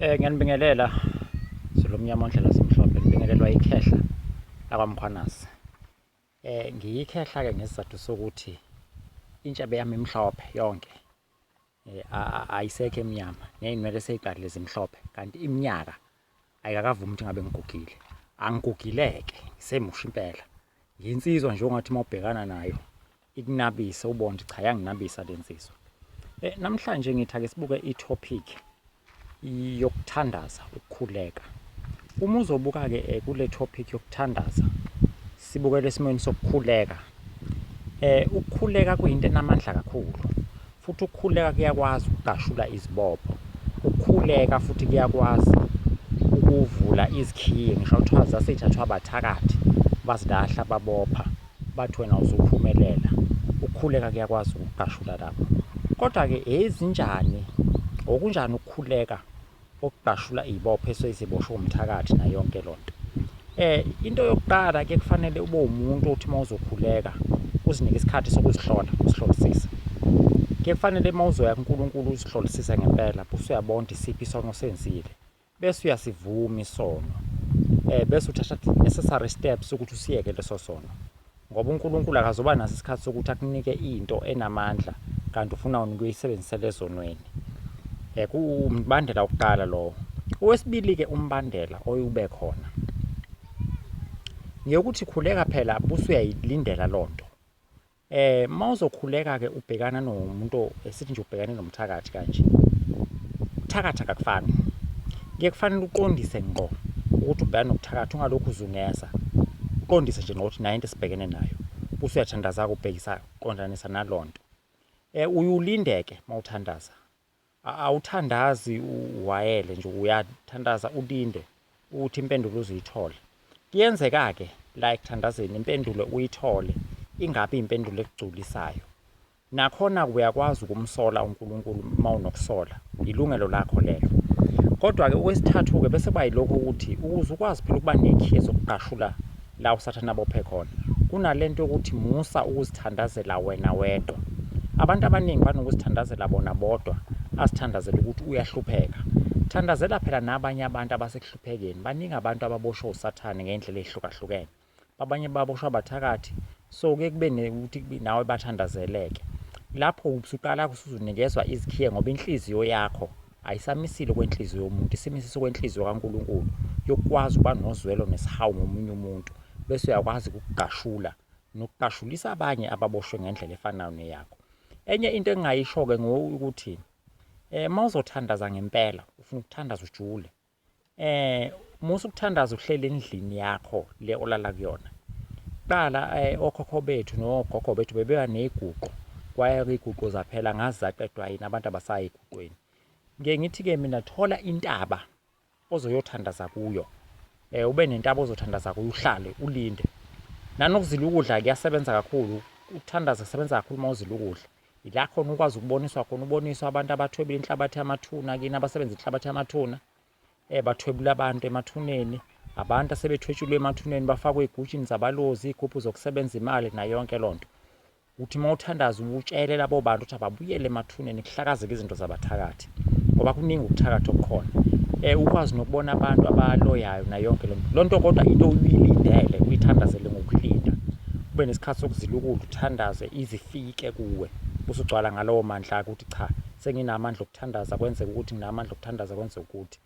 Eh ngiyanibingelela Zulumnyama ondlela simhlophe ngibingelelwa ikhehla lakwamkhwanasi. Eh ngiyikhehla ke ngesizathu sokuthi intshebe yami imhlophe yonke. Eh ayisekho emnyama neyinwele seyiqalile zimhlophe kanti iminyaka ayikakavumi ukuthi ngabe ngigugile angigugileke semusha impela yinsizwa nje ongathi uma ubhekana nayo ikunabise ubone ukuthi cha yanginabisa le nsizwa um namhlanje ngithi ake sibuke i-topic yokuthandaza ukukhuleka uma uzobuka-ke um kule topic yokuthandaza sibukele esimweni sokukhuleka um ukukhuleka kuyinto enamandla kakhulu Futhi ukukhuleka kuyakwazi ukugashula izibopho. Ukukhuleka futhi kuyakwazi ukuvula izikhiye ngisho kuthiwa zasithathwa abathakathi bazilahla babopha bathi wena uzuphumelela ukukhuleka kuyakwazi ukugashula lapho kodwa-ke ezinjani okunjani ukukhuleka Ukudashula izibopho esuke ziboshwe umthakathi na yonke lo nto. Um into yokuqala ke kufanele ube umuntu othi uma uzokhuleka uzinike isikhathi sokuzihlola uzihlolisise ke kufanele uma uzoya kuNkulunkulu uzihlolisise ngempela bese uyabonda isiphi isono osenzile bese uyasivuma isono um bese uthatha necessary steps ukuthi usiyeke leso sono Ngoba uNkulunkulu akazoba naso isikhathi sokuthi akunike into enamandla kanti ufuna wena ukuyisebenzisela ezonweni. Eh kumbandela wokuqala lowo. Owesibili ke umbandela oyube khona. Ngiyokuthi khuleka phela busuyayilindela lonto. Eh mawuzokhuleka ke ubhekana nomuntu esithi nje ubhekane nomshado thakathi kanje ukuthakatha kakufani kuye kufanele uqondise ngqo ukuthi ubhekana nokuthakatha ungalokhu uzungeza uqondise nje ngokuthi nayo into esibhekene nayo buse uyathandaza kubhekisa qondanisa naloo nto um uyulindeke uma uthandaza awuthandazi uwayele nje uyathandaza ulinde ukuthi impendulo uzuyithole kuyenzeka-ke la ekuthandazeni impendulo uyithole ingabi impendulo ekugculisayo Nakhona-ke uyakwazi ukumsola uNkulunkulu uma unokusola, yilungelo lakho lelo. Kodwa-ke okwesithathu-ke bese kuba yilokho ukuthi ukuze ukwazi phela ukuba nekhiye zokugqashula la uSathane abophe khona, kunalento yokuthi musa ukuzithandazela wena wedwa. Abantu abaningi banokuzithandazela bona bodwa, azithandazela ukuthi uyahlupheka. Thandazela phela nabanye abantu abasekuhluphekeni. Baningi abantu ababoshwe uSathane ngey'ndlela ey'hlukahlukene. abanye baboshwa abathakathi so kuye kube nekuthi nawe bathandazeleke lapho usuqala usuzunikezwa izikhiye ngoba inhliziyo yakho ayisamisile kwenhliziyo yomuntu isimisise kwenhliziyo kaNkuluNkulu yokwazi ukuba nozwelo nesihawu ngomunye umuntu bese uyakwazi ukugashula nokugashulisa abanye ababoshwe ngendlela efanayo neyakho enye into engingayisho-ke ngokuthi um eh, uma uzothandaza ngempela ufuna ukuthandaza ujule eh musa ukuthandaza uhlele endlini yakho le olala kuyona qala eh, okhokho bethu nogogo bethu bebeba neguqo kwaye iguqo zaphela ngazi zaqedwa yini abantu abasayi eguqweni ngiye ngithi-ke mina thola intaba ozoyothandaza kuyo um ube nentaba ozothandaza kuyo uhlale ulinde nanokuzila ukudla kuyasebenza kakhulu ukuthandaza kusebenza kakhulu uma uzila ukudla ila khona ukwazi ukuboniswa khona uboniswa abantu abathwebula inhlabathi yamathuna kini abasebenza inhlabathi yamathuna eh bathwebula abantu emathuneni abantu asebethwetshulwe emathuneni bafakwe igutshini zabalozi ikhuphu zokusebenza imali nayo yonke lonto uthi mawuthandaza ubutshele labo bantu ukuthi ababuyele emathuneni kuhlakazeke izinto zabathakathi ngoba kuningi ukuthakatha okukhona um ukwazi nokubona abantu abaloyayo nayonke loo nto loo nto kodwa into uyilindele uyithandazele ngokulinda ube nesikhathi sokuzilukula uthandaze izifike kuwe usugcwala ngalowo mandla ukuthi cha senginamandla okuthandaza kwenzeka ukuthi nginamandla okuthandaza kwenzeka ukuthi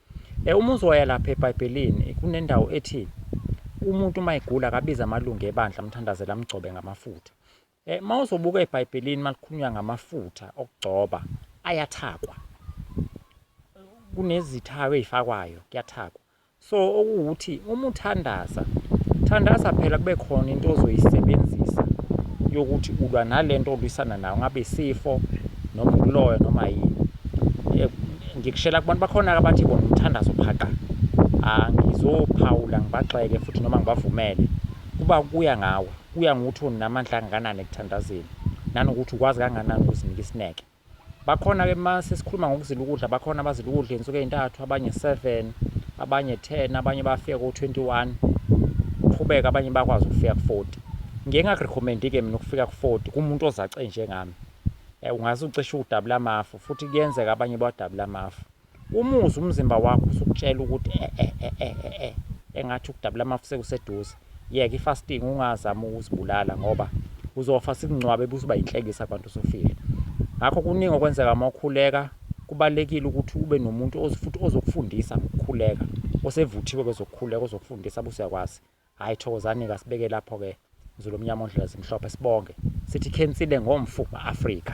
um uma uzoya lapha ebhayibhelini kunendawo ethi umuntu uma egula akabiza amalungu ebandla amthandazela amgcobe ngamafutha Eh mawuzobuka eBhayibhelini malikhulunywa ngamafutha okugcoba ayathakwa. Kunezithako ezifakwayo kuyathakwa. So okuwukuthi uma uthandaza, thandaza phela kube khona into ozoyisebenzisa yokuthi ulwa nalento olwisana nayo ngabe isifo noma ukuloya noma yini. Eh, ngikushela kubantu bakhona abathi bona umthandazo phaqa. Angizophawula ngibagxeke futhi noma ngibavumele kuba kuya ngawe. Kuya ngokuthi unamandla angakanani ekuthandazeni nanokuthi ukwazi kangakanani ukuzinika isineke. Bakhona ke uma sesikhuluma ngokuzila ukudla, bakhona abazila ukudla izinsuku ezintathu, abanye 7, abanye 10, abanye bafika ko 21. Qhubeka abanye bakwazi ukufika ku 40. Ngike ngakurecommend ke mina ukufika ku 40 kumuntu ozace njengami. Eh, ungaze ucishe ukudabula amafu futhi kuyenzeka abanye badabula amafu. Umuzwa umzimba wakho usukutshela ukuthi eh eh eh eh eh eh engathi ukudabula amafu sekuseduze. Yeka i-fasting ungazama ukuzibulala ngoba uzofa sikungcwabe bese uba inhlekisa abantu usufile. Ngakho kuningi okwenzeka uma ukhuleka kubalekile ukuthi ube nomuntu ozifuthi ozokufundisa ngokukhuleka osevuthiwe kwezokukhuleka ozokufundisa buse yakwazi. Hayi thokozani ke sibeke lapho ke Zulu omnyama ondlela zimhlophe sibonge sithi khensile ngomfu ma-Afrika.